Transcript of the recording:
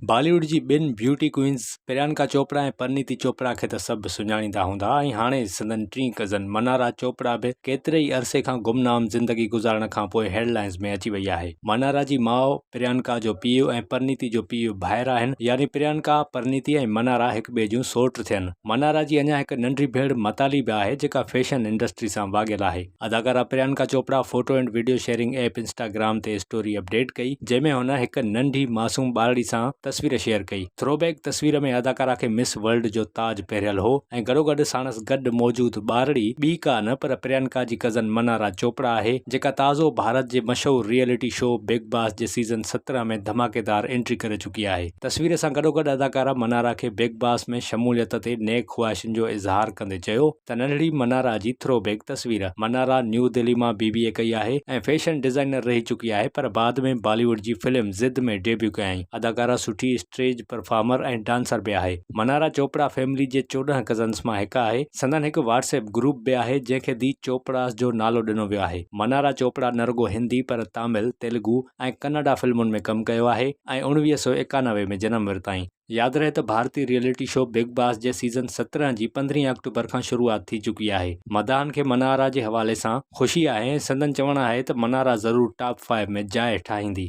باليووڊ جي ٻن beauty queens Priyanka Chopra ۽ Parineeti Chopra کي ته سڀ سڃاڻيندا هوندا ۽ هاڻي سندن ٽين ڪزن منارا چوپڙا به ڪيتري ئي عرصي کان گمنام زندگي گذارڻ کان پوء هيڊ لائنز ۾ اچي وئي آهي منارا جي ماء پريانڪا جو پيء ۽ پرنيتي جو پيء ڀائر آهن يعني پريانڪا پرنيتي ۽ منارا هڪ ٻئي جون سئوٽ ٿين منارا جي اڃا هڪ ننڍي ڀيڻ متالي به آهي جيڪا فيشن انڊسٽري سان واڳيل آهي. اداڪارا Priyanka Chopra photo and video sharing app Instagram تي اسٽوري اپ ڊيٽ ڪئي جنهن ۾ هن هڪ ننڍي معصوم ٻارڙي سان تصوير شيئر ڪئي ٿرو بيڪ تصوير ۾ اداڪارا کي مس ورلڊ جو تاج پهريل هو ۽ گڏوگڏ ساڻس گڏ موجود ٻارڙي ٻي ڪا نه پر پريانڪا جي ڪزن منارا چوپڙا آهي جيڪا تازو ڀارت جي مشهور ريئلٽي شو بگ باس جي سيزن سترهن ۾ ڌماڪيدار انٽري ڪري چڪي چڪي آهي. تصوير سان گڏوگڏ اداڪارا منارا کي بگ باس ۾ شموليت تي نيڪ خواهشن جو اظهار ڪندي چيو ته ننڍڙي منارا جي ٿرو بيڪ تصوير، منارا نيو دهلي مان بي بي اي ڪئي آهي ۽ فيشن ڊزائنر رهي چڪي آهي پر بعد ۾ بالي ووڊ جي فلم ضد ۾ ڊيبيو ڪيائين، اداڪارا سٺي اسٽريج پرفارمر ۽ ڊانسر به آهي، منارا چوپڙا فيملي جي چوڏهن ڪزنس مان هڪ آهي، سندن هڪ واٽس ايپ گروپ به آهي جنهن کي دي چوپڙاس جو نالو ڏنو ويو آهي، منارا چوپڙا نه رڳو هندي پر تامل، تيلگو. ۽ ڪناڊا فلمن ۾ ڪم ڪيو آهي ۽ اڻويهه سؤ ايڪانوي ۾ جنم ورتائين. ياد رهي ته ڀارتي ريئلٽي شو بگ باس جي سيزن سترهن جي پندرهين آڪٽوبر کان شروعات ٿي چڪي آهي. مداحن کي منارا جي حوالي سان خوشي آهي ۽ سندن چوڻ آهي ته منارا ضرور ٽاپ فائيو ۾ جاء ٺاهيندي.